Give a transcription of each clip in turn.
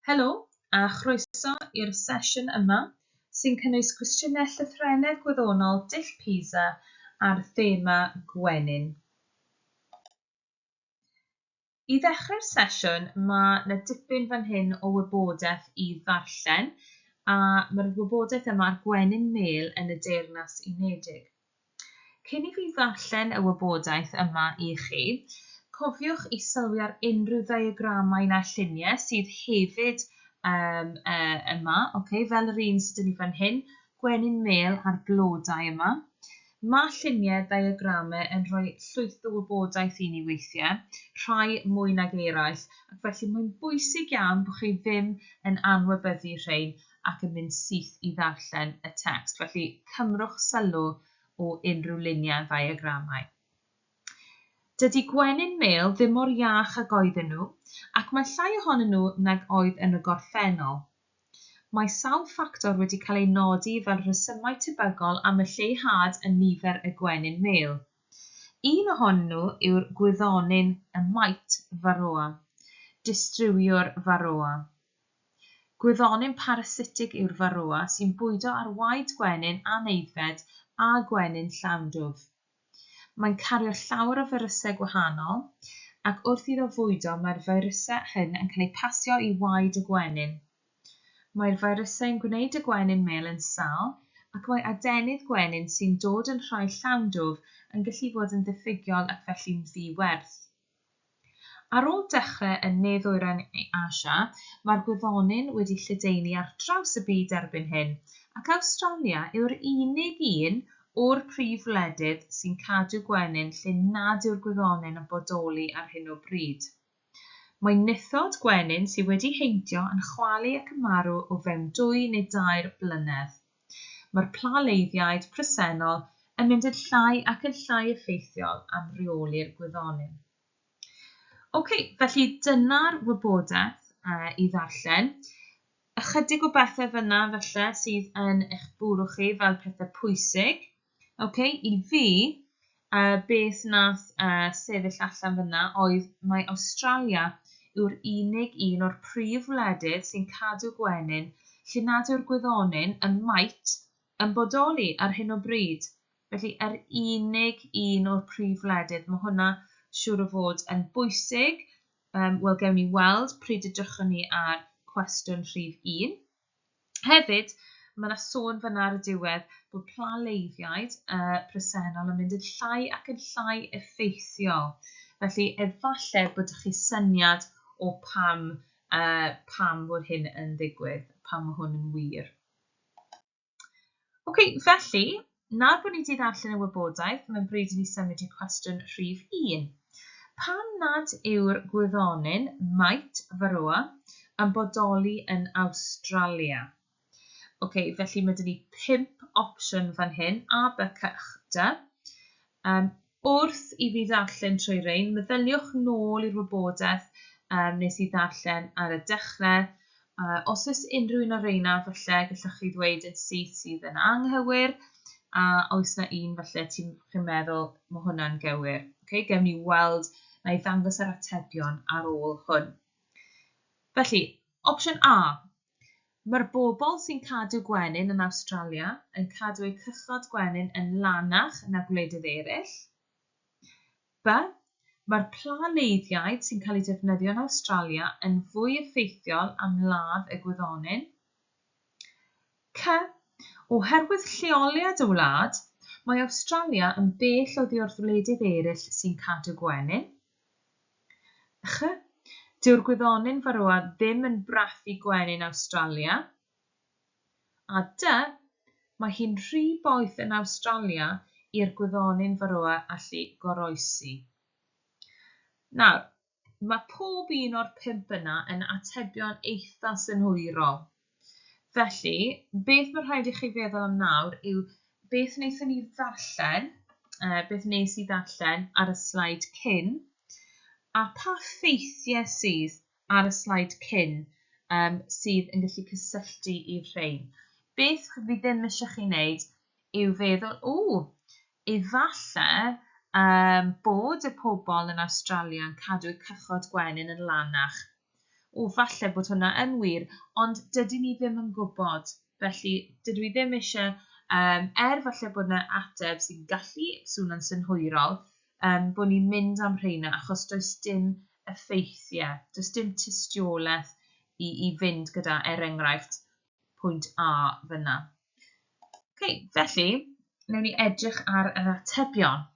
Helo a chroeso i'r sesiwn yma sy'n cynnwys cwestiynau llythrennedd gwyddonol dull PISA ar thema gwenyn. I ddechrau'r sesiwn mae na dipyn fan hyn o wybodaeth i ddarllen a mae'r wybodaeth yma ar gwenyn mêl yn y Deyrnas Unedig. Cyn i fi ddarllen y wybodaeth yma i chi, cofiwch i sylwi ar unrhyw ddiagramau na lluniau sydd hefyd um, uh, yma, okay? fel yr un sydd yn ni fan hyn, gwenyn mêl a'r blodau yma. Mae lluniau ddiagramau yn rhoi llwyth o wybodaeth i ni weithiau, rhai mwy nag eraill, ac felly mae'n bwysig iawn bod chi ddim yn anwybyddu rhain ac yn mynd syth i ddarllen y tecst, felly cymrwch sylw o unrhyw luniau yn ddeiagramau. Dydy gwenyn mêl ddim mor iach ag oedden nhw, ac mae llai ohonyn nhw nag oedd yn y gorffennol. Mae sawl ffactor wedi cael eu nodi fel rhesymau tebygol am y lleihad yn nifer y gwenyn mêl. Un ohonyn nhw yw'r gwyddonyn y mite, Varroa, distriwiwr Varroa. Gwyddonyn parasitig yw'r Varroa sy'n bwydo ar waed gwenyn anaeddfed a gwenyn llawn dwf. Mae'n cario llawer o firysau gwahanol, ac wrth iddo fwydo mae'r firysau hyn yn cael eu pasio i waed y gwenyn. Mae'r firysau yn gwneud y gwenyn mêl yn sâl, ac mae adenydd gwenyn sy'n dod yn rhai llawn dwf yn gallu bod yn ddiffygiol ac felly'n ddi-werth. Ar ôl dechrau yn ne-ddwyrain Asia, mae'r gwyddony'n wedi lledaenu ar draws y byd erbyn hyn, ac Awstralia yw'r unig un o'r prif wledydd sy'n cadw gwenyn lle nad yw'r gwyddony'n yn bodoli ar hyn o bryd. Mae nythod gwenyn sydd wedi heintio yn chwalu ac yn marw o fewn dwy neu dair blynedd. Mae'r plaleiddiaid presennol yn mynd yn llai ac yn llai effeithiol am reoli'r gwyddonyn. Ok, felly dyna'r wybodaeth uh, i ddarllen. Ychydig o bethau fyna felly sydd yn eich bwrw chi fel pethau pwysig. Ok, i fi, uh, beth nath uh, sefyll allan fyna oedd mae Awstralia yw'r unig un o'r prif wledydd sy'n cadw gwenyn lle nad yw'r gwyddonyn ym Mait yn bodoli ar hyn o bryd. Felly, yr unig un o'r prif wledydd. Mae hwnna siŵr o fod yn bwysig. Um, Wel, gewn ni weld pryd edrychwn ni ar cwestiwn rhif 1. Hefyd, mae 'na sôn fan'na ar y diwedd bod pla leiddiaid yy presennol yn mynd yn llai ac yn llai effeithiol, felly efallai bod 'da chi syniad o pam yy pam fod hyn yn ddigwydd, pam mae hwn yn wir. Ok, felly, nawr bod ni wedi ddarllen y wybodaeth, mae'n bryd i ni symud i cwestiwn rhif un. Pam nad yw'r gwyddonyn Might Varroa yn bodoli yn Awstralia? Ok, felly mae dyn ni pump opsiwn fan hyn, A, B, C, Dy. Um, Wrth i fi ddarllen trwy rein, meddyliwch nôl i'r wybodaeth yym nes i ddarllen ar y dechre, a os oes unrhyw un o reina falle gallwch chi ddweud yn syth sydd yn anghywir, a oes na un falle ti'n chi'n meddwl ma' hwnna'n gywir. Ocê, gewn ni weld, na i ddangos yr atebion ar ôl hwn. Felly, opsiwn A, Mae'r bobl sy'n cadw gwenyn yn Awstralia yn cadw eu cychod gwenyn yn lanach na gwledydd eraill. By, Mae'r pla leiddiaid sy'n cael eu defnyddio yn Awstralia yn fwy effeithiol am ladd y gwyddonyn. Cy, Oherwydd lleoliad y wlad, mae Awstralia yn bell oddi wrth wledydd eraill sy'n cadw gwenyn. Ych! Dyw'r gwyddonyn farroa ddim yn brathu gwenyn Awstralia. A dy! Mae hi'n rhy boeth yn Awstralia i'r gwyddonyn farroa allu goroesi. Nawr, mae pob un o'r pump yna yn atebion eitha synhwyrol. Felly, beth mae'n rhaid i chi feddwl am nawr yw beth wnaethon ni ddarllen, uh, beth wnes i ddarllen ar y slaid cyn, a pa ffeithiau sydd ar y slaid cyn um, sydd yn gallu cysylltu i rhain. Beth fi ddim eisiau chi wneud yw feddwl, o, efallai um, bod y pobl yn Australia yn cadw y cychod gwenyn yn lanach O, falle bod hwnna yn wir, ond dydyn ni ddim yn gwybod. Felly, dydw i ddim eisiau, um, er falle bod yna ateb sy'n gallu swnio'n synhwyrol, um, bod ni'n mynd am rheina, achos does dim effeithiau, does dim tystiolaeth i, i fynd gyda, er enghraifft, pwynt A fyna. Okay, felly, newn ni edrych ar yr atebion.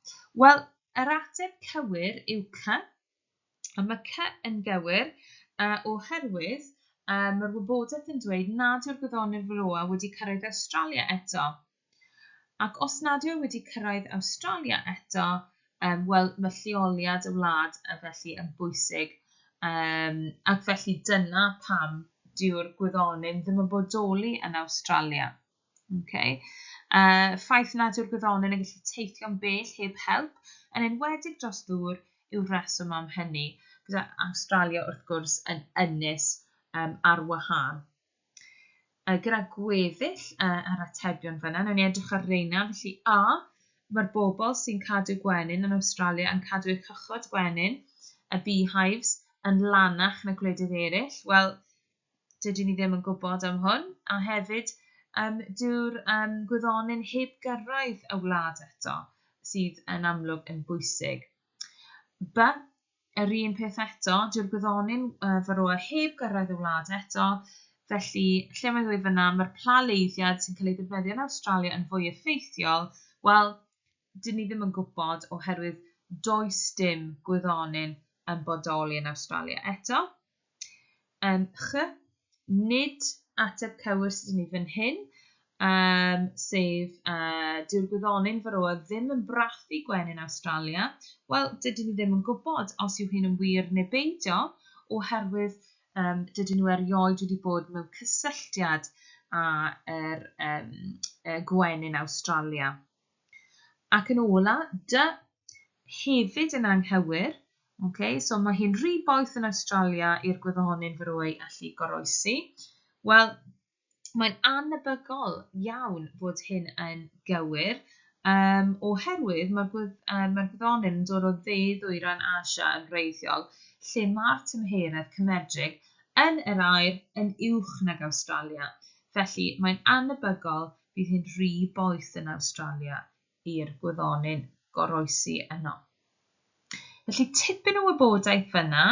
Wel, yr ateb cywir yw C, A mae Cy yn gywir, uh, oherwydd uh, mae'r wybodaeth yn dweud nad yw'r gwyddonydd Varroa wedi cyrraedd Awstralia eto. Ac os nad yw e wedi cyrraedd Awstralia eto, um, wel, mae lleoliad y wlad uh, felly yn bwysig. Um, ac felly dyna pam dyw'r gwyddonydd ddim yn bodoli yn Awstralia. Okay. Uh, ffaith nad yw'r gwyddonyn yn gallu teithio'n bell heb help, yn enwedig dros ddŵr, yw'r reswm am hynny, gyda Awstralia wrth gwrs yn ynys um, ar wahân. Uh, gyda gweddill uh, yr atebion fyna, newn ni edrych ar reina, felly A, mae'r bobl sy'n cadw gwenyn yn Awstralia yn cadw eu cychod gwenyn, y beehives, yn lanach na gwledydd eraill. Wel, dydyn ni ddim yn gwybod am hwn, a hefyd um, dyw'r um, gwyddonyn heb gyrraedd y wlad eto, sydd yn amlwg yn bwysig. By, yr un peth eto, dyw'r gwyddonyn uh, faroa heb gyrraedd y wlad eto, felly lle mae'n dweud fyna, mae'r plaleiddiad sy'n cael ei ddefnyddio yn Awstralia yn fwy effeithiol, wel, Dyn ni ddim yn gwybod oherwydd does dim gwyddonyn yn bodoli yn Awstralia eto. Yym, ch, nid ateb cywir sydd gen i fan hyn, um, sef uh, dyw'r gwyddonyn faroa ddim yn brathu gwenyn Awstralia. Wel, dydyn ni ddim yn gwybod os yw hyn yn wir neu beidio, oherwydd um, dydyn nhw erioed wedi bod mewn cysylltiad â'r er, um, gwenyn Awstralia. Ac yn ola, dy hefyd yn anghywir. Ok, so mae hi'n rhy boeth yn Awstralia i'r gwyddonyn fyroi allu goroesi. Wel, mae'n annebygol iawn fod hyn yn gywir, um, oherwydd mae'r gwydd, um, mae gwyddonyn yn dod o dde-ddwyrain Asia yn wreiddiol, lle mae'r tymheredd cymedrig yn yr aer yn uwch nag Awstralia. Felly, mae'n annebygol Bydd hi'n rhy boeth yn Awstralia i'r gwyddonyn goroesi yno. Felly tipyn o wybodaeth fan'na,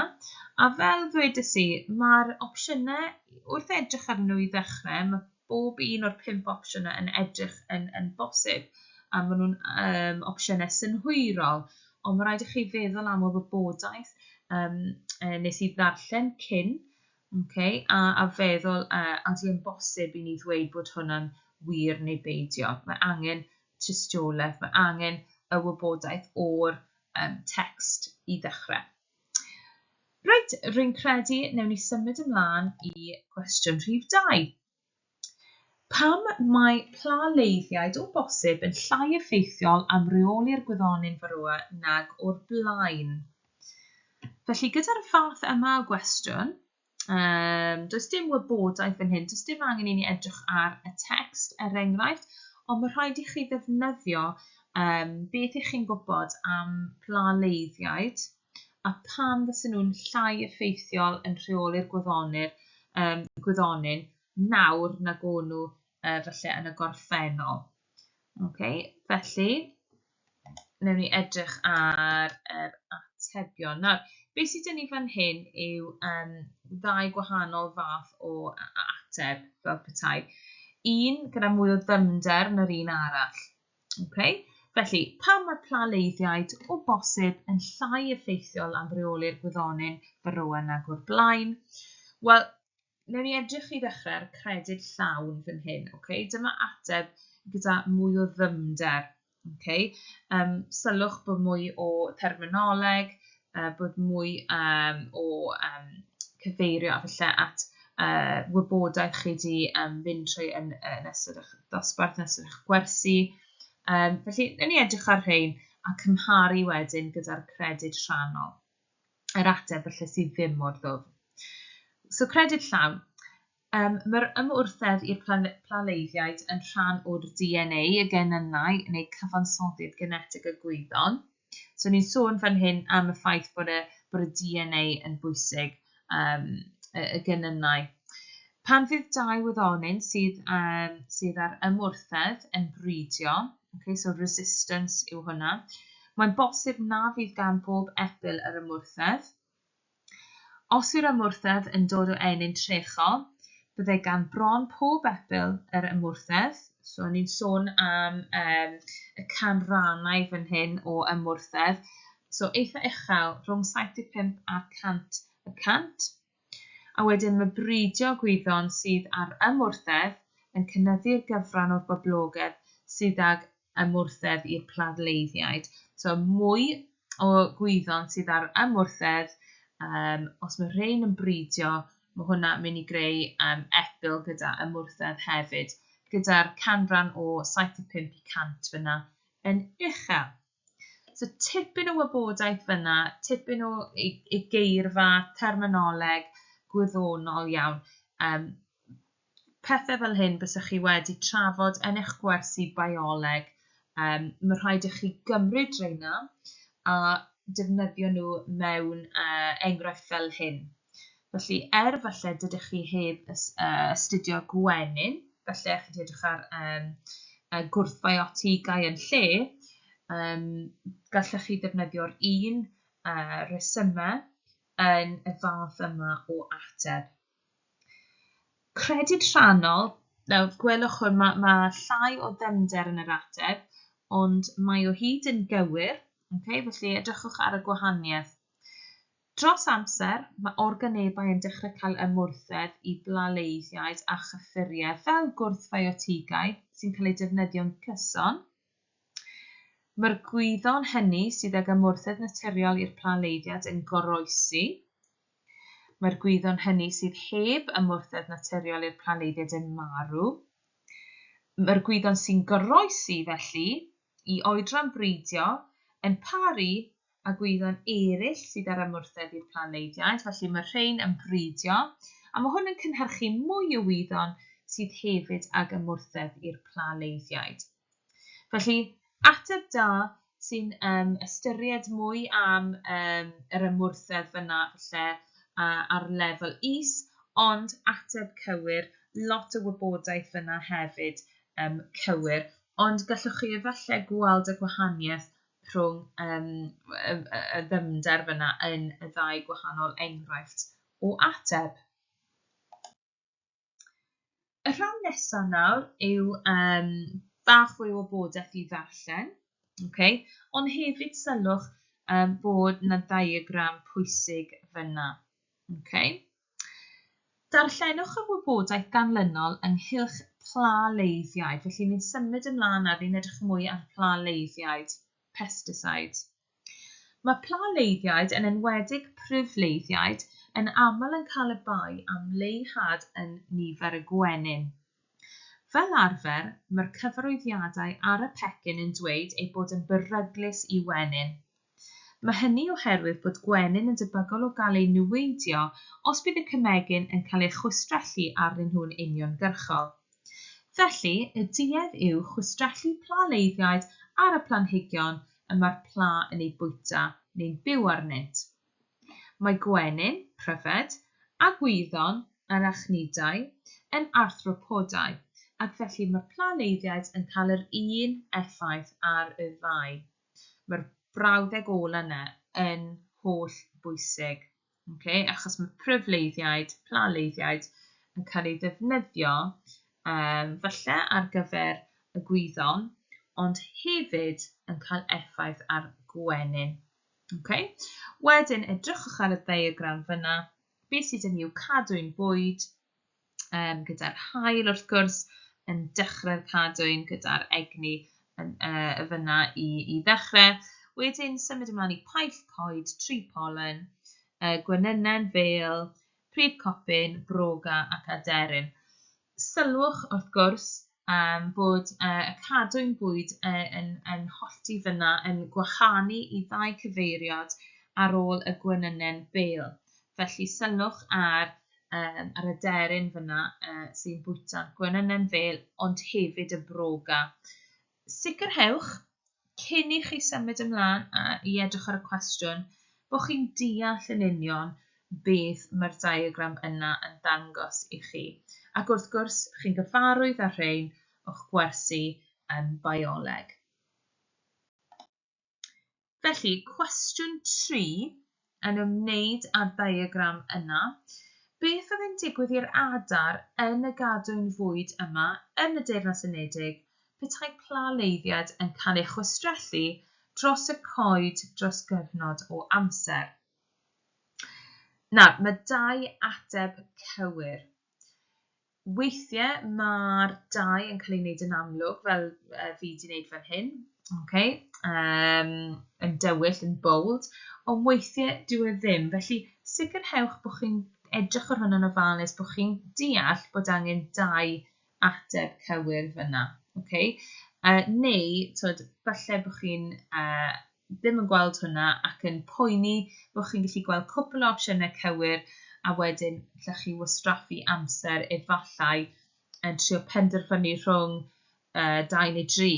a fel ddwedes i, mae'r opsiynau, wrth edrych arnyn nhw i ddechrau, mae bob un o'r pump opsiwn yna yn edrych yn, yn bosib, a maen nhw'n um, opsiynau synhwyrol, ond mae rhaid i chi feddwl am y wybodaeth um, nes i ddarllen cyn, Ok, a a feddwl a ydy e'n bosib i ni ddweud bod hwnna'n wir neu beidio? Mae angen tystiolaeth, mae angen y wybodaeth o'r um, text i ddechrau. Reit, rwy'n credu newn ni symud ymlaen i gwestiwn rhif 2. Pam mae pla leiddiaid o bosib yn llai effeithiol am reoli'r gwyddony'n Varroa nag o'r blaen? Felly, gyda'r fath yma o gwestiwn, um, does dim wybodaeth yn hyn, does dim angen i ni edrych ar y text, er enghraifft, ond mae rhaid i chi ddefnyddio um, beth ych chi'n gwybod am pla leiddiaid, a phan fysen nhw'n llai effeithiol yn rheoli'r gwyddonir, um, gwyddonyn nawr nag o'n nhw uh, felly yn y gorffennol. Okay, felly, newn ni edrych ar yr atebion. Nawr, beth sydd gen i fan hyn yw um, ddau gwahanol fath o ateb fel petai. Un gyda mwy o ddymder na'r un arall. Okay. Felly, pam mae plaleiddiaid o bosib yn llai effeithiol am reoli'r gwyddonyn faroa nag o'r blaen? Wel, newn ni edrych i ddechrau ar y credyd llawn fan hyn. Okay? Dyma ateb gyda mwy o ddymder. Okay? Um, sylwch bod mwy o terminoleg, uh, bod mwy um, o um, cyfeirio a felly at uh, wybodaeth chi wedi um, fynd trwy yn, yn ystod eich dosbarth, yn ystod eich gwersi. Um, felly, yn ni edrych ar rhain a cymharu wedyn gyda'r credyd rhannol, yr ateb felly sydd ddim mor ddwfn. So credyd llawn. Yym, mae'r ymwrthedd i'r plaleiddiaid yn rhan o'r DNA, y genynnau, neu cyfansoddiad genetig y gwyddon. So ni'n sôn fan hyn am y ffaith bod y, bod y DNA yn bwysig, um, y, y genynnau. Pan fydd dau wyddonyn sydd, um, sydd ar ymwrthedd yn bridio, okay, so resistance yw hwnna, mae'n bosib na fydd gan bob epil yr ymwrthedd, Os yw'r ymwrthedd yn dod o ennyn trecho, byddai gan bron pob epil yr ymwrthedd, so ni'n sôn am um, y canrannau fan hyn o ymwrthedd, so eitha uchel, rhwng 75 a'r 100 y cant, a wedyn mae bridio gwyddon sydd ar ymwrthedd yn cynyddu'r gyfran o'r boblogedd sydd ag ymwrthedd i'r pladleiddiaid. So, mwy o gwyddon sydd ar ymwrthedd, um, os mae rhain yn bridio, mae hwnna mynd i greu um, epil gyda ymwrthedd hefyd, gyda'r canran o 75 i 100 fyna yn uchel. So tipyn o wybodaeth fyna, tipyn o ei, ei geirfa, terminoleg, gwyddonol iawn. Um, pethe fel hyn bysach chi wedi trafod yn eich gwersi bioleg. Um, mae rhaid i chi gymryd reina a defnyddio nhw mewn uh, enghraifft fel hyn. Felly, er falle dydych chi heb uh, astudio gwenyn, felly chi wedi edrych ar um, uh, gwrthfiotigau yn lle, um, gallech chi ddefnyddio'r un uh, resymau yn y fath yma o ateb. Credyd rhannol, nawr gwelwch hwn, mae, mae llai o ddyfnder yn yr ateb, ond mae o hyd yn gywir, okay? felly edrychwch ar y gwahaniaeth. Dros amser, mae organebau yn dechrau cael ymwrthedd i blaleiddiaid a chyffuriau fel gwrthfiotigau sy'n cael eu defnyddio'n gyson, Mae'r gwyddon hynny sydd ag ymwrthedd naturiol i'r pla leiddiad yn goroesi. Mae'r gwyddon hynny sydd heb ymwrthedd naturiol i'r pla leiddiad yn marw. Mae'r gwyddon sy'n goroesi, felly, i oedran breidio yn paru a gwyddon eraill sydd â'r ymwrthedd i'r planleidiaid, felly mae'r rhain yn bridio, a mae hwn yn cynhyrchu mwy o wyddon sydd hefyd ag ymwrthedd i'r planleidiaid. Felly, ateb da sy'n um, ystyried mwy am um, yr ymwrthedd fyna falle uh, ar lefel is, ond ateb cywir, lot o wybodaeth fyna hefyd um, cywir, ond gallwch chi efallai gweld y gwahaniaeth rhwng yym y y y ddyfnder fyna yn y ddau gwahanol enghraifft o ateb. Y rhan nesaf nawr yw um, bach fwy o wybodaeth i ddarllen, okay? ond hefyd sylwch um, bod na diagram pwysig fyna. Okay? Darllenwch y wybodaeth ganlynol ynghylch pla leiddiaid. Felly, ni'n symud ymlaen nawr, ni'n edrych mwy ar pla leiddiaid, pesticides. Mae pla leiddiaid, yn enwedig pryf leiddiaid, yn aml yn cael y bai am leihad yn nifer y gwenyn. Fel arfer, mae'r cyfarwyddiadau ar y pecyn yn dweud eu bod yn beryglus i wenyn. Mae hynny oherwydd bod gwenyn yn debygol o gael eu niweidio os bydd y cemegyn yn cael ei chwistrellu arnyn nhw'n uniongyrchol. Felly, y duedd yw chwistrellu pla leiddiaid ar y planhigion y mae'r pla yn eu bwyta neu'n byw arnynt. Mae gwenyn, pryfed, a gwyddon, arachnidau, yn arthropodau, ac felly mae'r planeiddiaid yn cael yr un effaith ar y ddau. Mae'r brawddeg ola' yna yn holl bwysig, ok, achos mae pryfleiddiaid, planeiddiaid, yn cael eu ddefnyddio yym falle ar gyfer y gwyddon, ond hefyd yn cael effaith ar gwenyn. Ok, wedyn edrychwch ar y ddiagram fyna, beth sydd yn i'w cadwyn bwyd, um, gyda'r hael wrth gwrs, yn dechrau'r cadwyn gyda'r egni yn, uh, y fyna i, i ddechrau. Wedyn symud ymlaen i paill coed, tri polen, uh, gwenynnen, fel, prif copyn, broga ac aderyn. Sylwch, wrth gwrs, yym, bod yy y cadwyn bwyd yy yn yn hollti fynna yn gwahanu i ddau cyfeiriad ar ôl y gwenynen bêl. Felly, sylwch ar yym yr aderyn fynna yy sy'n bwyta'r gwenynen fêl ond hefyd y broga. Sicrhewch, cyn i chi symud ymlaen i edrych ar y cwestiwn, bod chi'n deall yn union beth mae'r diagram yna yn ddangos i chi, ac wrth gwrs, chi'n gyfarwydd â'r rhain o'ch gwersi ym Bioleg. Felly, cwestiwn 3, yn ymwneud â'r ddiagram yna, beth oedd yn digwydd i'r adar yn y gadwyn fwyd yma yn y Deyrnas Unedig petai pla leiddiad yn cael ei chwistrellu dros y coed dros gyfnod o amser? Nawr, mae dau ateb cywir. Weithie ma'r dau yn cael ei wneud yn amlwg fel yy fi di wneud fan hyn, ok, yym yn dywyll, yn bold, ond weithie dyw e ddim, felly sicrhewch bod chi'n edrych ar hwnna'n ofalus, bod chi'n deall bod angen dau ateb cywir fan'na, ok. Yy neu, t'wod, falle bod chi'n yy ddim yn gweld hwnna ac yn poeni bod chi'n gallu gweld cwpl o opsiynau cywir a wedyn allwch chi wastraffu amser efallai yn trio penderfynu rhwng uh, dau neu dri.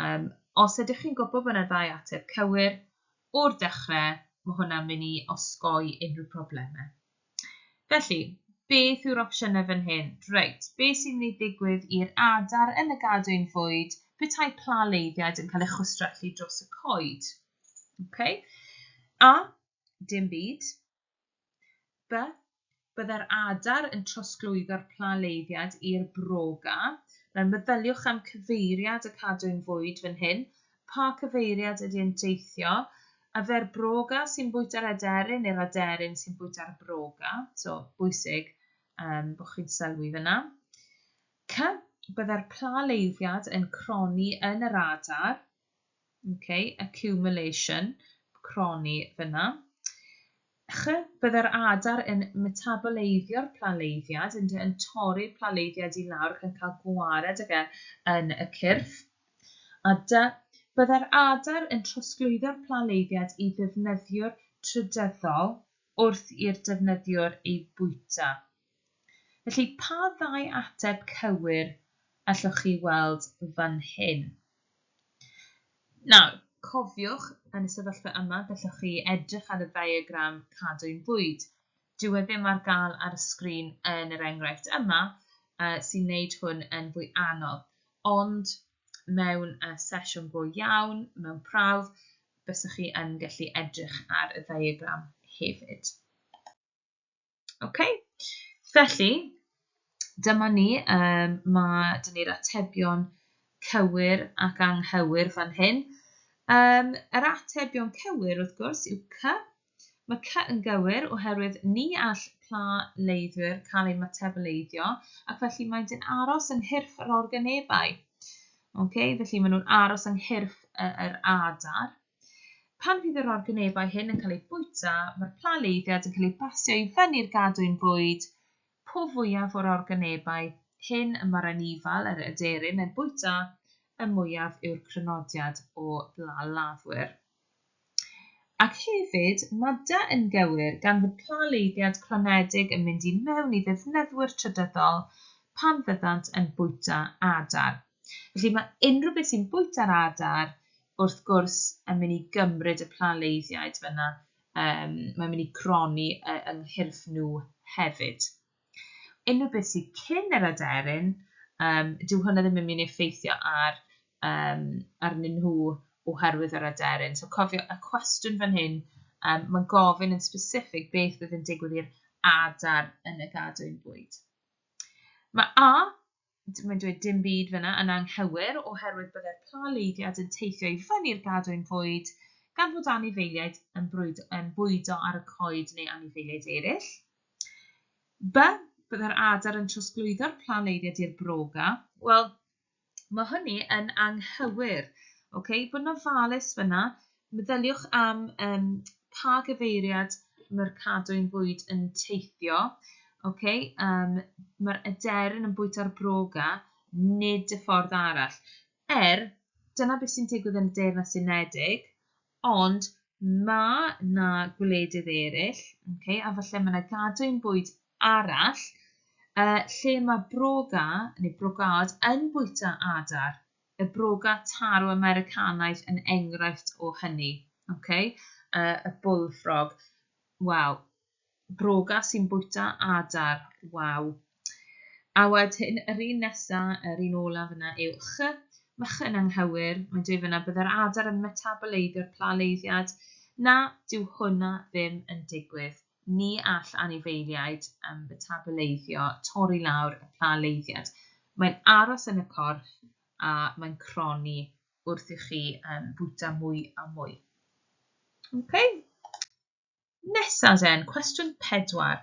Um, os ydych chi'n gwybod bod yna ddau ateb cywir, o'r dechrau, mae hwnna'n mynd i osgoi unrhyw problemau. Felly, beth yw'r opsiynau fan hyn? Reit, be sy'n mynd i ddigwydd i'r adar yn y gadwyn fwyd petai pla leiddiaid yn cael ei chwistrellu dros y coed? Okay. A. Dim byd. B. Byddai'r adar yn trosglwyddo'r pla leiddiad i'r broga. Nawr, meddyliwch am cyfeiriad y cadwyn fwyd fan hyn. Pa cyfeiriad ydy yn teithio? A fe'r broga sy'n bwyta'r aderyn neu'r aderyn sy'n bwyta'r broga? So, bwysig um, bod chi'n sylwi fyna. C. Byddai'r pla leiddiad yn croni yn yr adar. Okay, accumulation, croni fyna. Ch, Byddai'r adar yn metaboleiddio'r plaleiddiad, ynddo, yn torri'r plaleiddiad i lawr ac yn cael gwared ag e yn y cyrff. A dy, Byddai'r adar yn trosglwyddo'r plaleiddiad i ddefnyddiwr trydyddol wrth i'r defnyddiwr ei fwyta. Felly, pa ddau ateb cywir allwch chi weld fan hyn? Nawr, cofiwch, yn y sefyllfa yma, gallwch chi edrych ar y ddiagram cadwyn bwyd. Dyw e ddim ar gael ar y sgrin yn yr enghraifft yma, sy'n gwneud hwn yn fwy anodd, ond mewn sesiwn go iawn, mewn prawf, bysach chi yn gallu edrych ar y ddiagram hefyd. Ok, felly, dyma ni, um, mae dyn ni'r atebion cywir ac anghywir fan hyn. Um, yr atebion cywir, wrth gwrs, yw cy. Mae cy yn gywir oherwydd ni all pla leiddwyr cael eu matableiddio ac felly maent yn aros yng nghyrff yr organebau. Okay, felly maen nhw'n aros yng nghyrff yr adar. Pan fydd yr organebau hyn yn cael eu bwyta, mae'r plaleiddiad yn cael ei basio i fyny'r gadwyn bwyd. Po fwyaf o'r organebau hyn y mae'r anifail, yr aderyn, yn bwyta, y mwyaf yw'r crynodiad o blalafwyr. Ac hefyd, Mada yn gywir, gan fod plaleiddiad cronedig yn mynd i mewn i ddefnyddwyr trydyddol pan fyddant yn bwyta adar. Felly, mae unrhyw beth sy'n bwyta'r adar wrth gwrs, yn mynd i gymryd y planleiddiaid fan'na, yym, mae'n mynd i gronni yy yng nghyrff nhw hefyd. Unrhyw beth sydd cyn yr aderyn, um, dyw hwnna ddim yn mynd i effeithio ar, um, arnyn nhw oherwydd yr aderyn. So cofio y cwestiwn fan hyn, um, mae'n gofyn yn specific beth fydd yn digwydd i'r adar yn y gadwyn bwyd. Mae A mae'n dweud dim byd fyna yn anghywir oherwydd byddai'r plaleiddiad yn teithio i fyny i'r gadwyn fwyd gan fod anifeiliaid yn, brwyd, yn bwydo ar y coed neu anifeiliaid eraill. By, byddai'r adar yn trosglwyddo'r plaleiddiad i'r broga. Wel, mae hynny yn anghywir. Okay? Bod yn ofalus fyna, Meddyliwch am um, pa gyfeiriad mae'r cadwyn bwyd yn teithio. Ok, um, mae'r aderyn yn bwyta'r broga, nid y ffordd arall. Er, dyna beth sy'n digwydd yn y Deyrnas Unedig, ond mae na gwledydd eraill, okay, a falle mae yna gadwyn bwyd arall, uh, lle mae broga, neu brogad, yn bwyta adar. Y brogan taro Americanaidd yn enghraifft o hynny. Ok? Y bullfrog. Wel, broga sy'n bwyta adar. Waw. A wedyn, yr un nesa, yr un olaf yna yw ch. Mae ch yn anghywir. Mae'n dweud fanna, byddai'r adar yn metaboleiddio'r plaleiddiad. Na, dyw hwnna ddim yn digwydd. Ni all anifeiliaid metabaleiddio torri lawr y pla leiddiad. Mae'n aros yn y corff a mae'n cronni wrth i chi fwyta mwy a mwy. Ok. Nesa den, cwestiwn pedwar.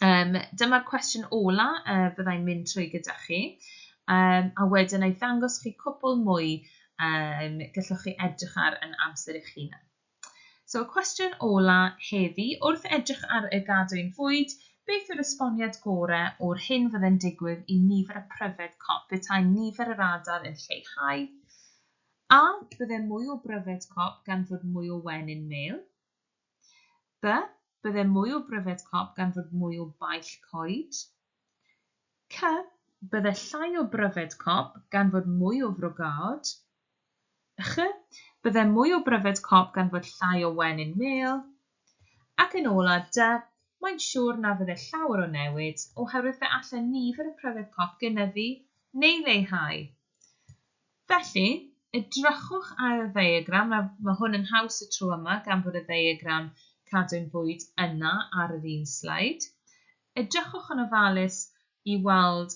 Yym, dyma'r cwestiwn ola y bydda i'n mynd trwy gyda chi. Yym, a wedyn na i ddangos chi cwpwl mwy yym gallwch chi edrych ar yn amser eich hunan. So cwestiwn ola heddi, wrth edrych ar y gadwyn fwyd, beth yw'r esboniad gore o'r hyn fydde'n digwydd i nifer y pryfed cop petai nifer yr adar yn lleihau? A, bydde mwy o bryfed cop gan fod mwy o wen in mêl? B, bydde mwy o bryfed cop gan fod mwy o baill coed? Cy, Bydde llai o bryfed cop gan fod mwy o frogaod. Ch, Bydde mwy o bryfed cop gan fod llai o wen in mêl. Ac yn ola, Dy, Mae'n siwr na fydde llawer o newid, oherwydd fe alle nifer y pryfed cop gynyddu neu leihau. Felly, edrychwch ar y ddeiagram, nawr, mae hwn yn haws y tro yma gan fod y ddeiagram cadwyn bwyd yna ar yr un sleid. Edrychwch yn ofalus i weld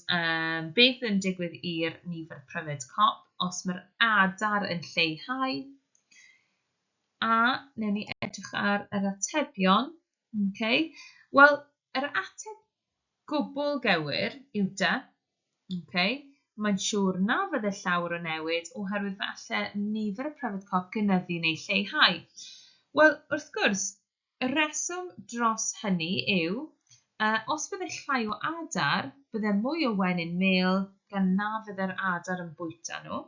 beth yn digwydd i'r nifer pryfed cop os mae'r adar yn lleihau. A, newn ni edrych ar yr atebion. Okay. Wel, yr ateb gwbl gywir yw dy. Okay. Mae'n siŵr na fydde llawr o newid oherwydd fe alle nifer y pryfed cop gynyddu neu lleihau. Wel, wrth gwrs, Y rheswm dros hynny yw, a os bydde llai o adar, bydde mwy o wenyn mêl gan na fydde'r adar yn bwyta nhw.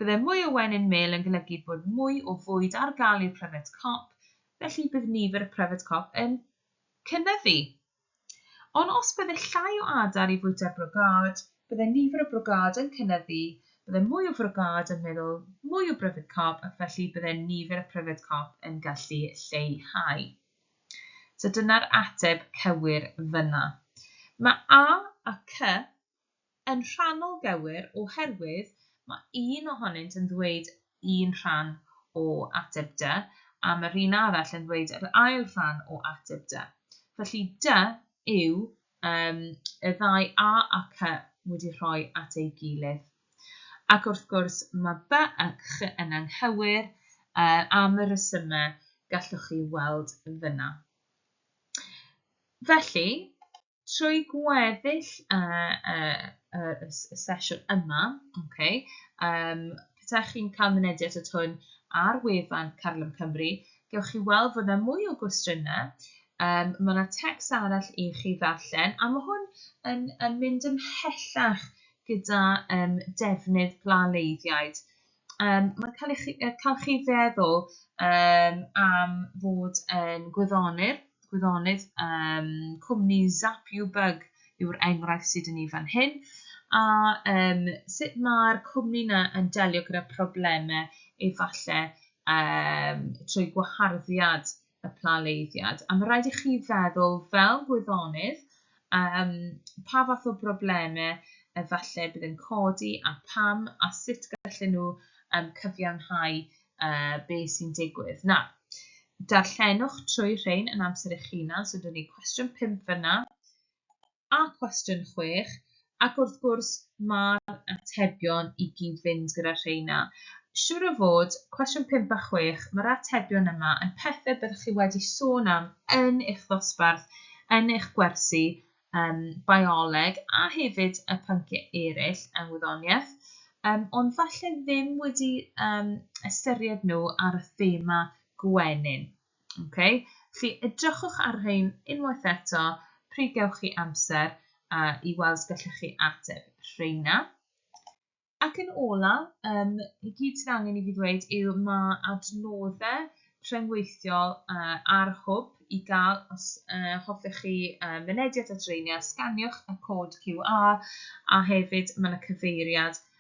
Bydde mwy o wenyn mêl yn golygu bod mwy o fwyd ar gael i'r pryfed cop, felly bydd nifer y pryfed cop yn cynyddu. Ond os bydde llai o adar i fwyta'r brogâd, bydde nifer y brogâd yn cynyddu, bydde mwy o frogâd yn meddwl mwy o bryfed cop ac felly bydde nifer y pryfed cop yn gallu lleihau. So dyna'r ateb cywir fyna. Mae A a C Yn rhannol gywir oherwydd mae un ohonynt yn ddweud un rhan o ateb dy a mae'r un arall yn ddweud yr ail rhan o ateb dy. Felly dy yw um, y ddau a a cy wedi rhoi at ei gilydd. Ac wrth gwrs mae by a ch yn anghywir uh, am y resymau gallwch chi weld fyna. Felly, trwy gweddill y, y, y, y, y sesiwn yma, okay, um, petaech chi'n cael mynediad at hwn ar wefan Carlym Cymru, gewch chi weld fod yna mwy o gwestiynau, um, mae yna tecs arall i chi ddarllen, a mae hwn yn, yn mynd ymhellach gyda um, defnydd plaleiddiaid. Um, mae'n cael, chi, cael chi feddwl um, am fod yn gwyddonydd, gwyddonydd um, cwmni Zap You Bug yw'r enghraifft sydd yn ei fan hyn, a um, sut mae'r cwmni yna yn delio gyda problemau efallai um, trwy gwaharddiad y planleiddiad, a mae rhaid i chi feddwl fel gwyddonydd um, pa fath o broblemau efallai bydd yn codi a pam a sut gallen nhw um, cyfiawnhau uh, be sy'n digwydd. Na, darllenwch trwy rhain yn amser eich hunan, so dyn ni cwestiwn 5 fyna, a cwestiwn chwech, ac wrth gwrs mae'r atebion i gyd fynd gyda rheina. Siŵr o fod, cwestiwn pump a chwech, mae'r atebion yma yn pethau byddwch chi wedi sôn am yn eich ddosbarth, yn eich gwersi um, bioleg a hefyd y pynciau eraill yng ngwyddoniaeth, um, ond falle ddim wedi um, ystyried nhw ar y thema gwenyn. Okay, felly edrychwch ar rhein unwaith eto pryd gewch chi amser a i weld os gallech chi ateb rheina. Ac yn ola, um, i gyd sydd angen i fi ddweud yw mae adnoddau rhyngweithiol uh, ar hwb i gael os uh, hoffech chi uh, mynediad at reiniau, sganiwch y cod QR a hefyd mae yna cyfeiriad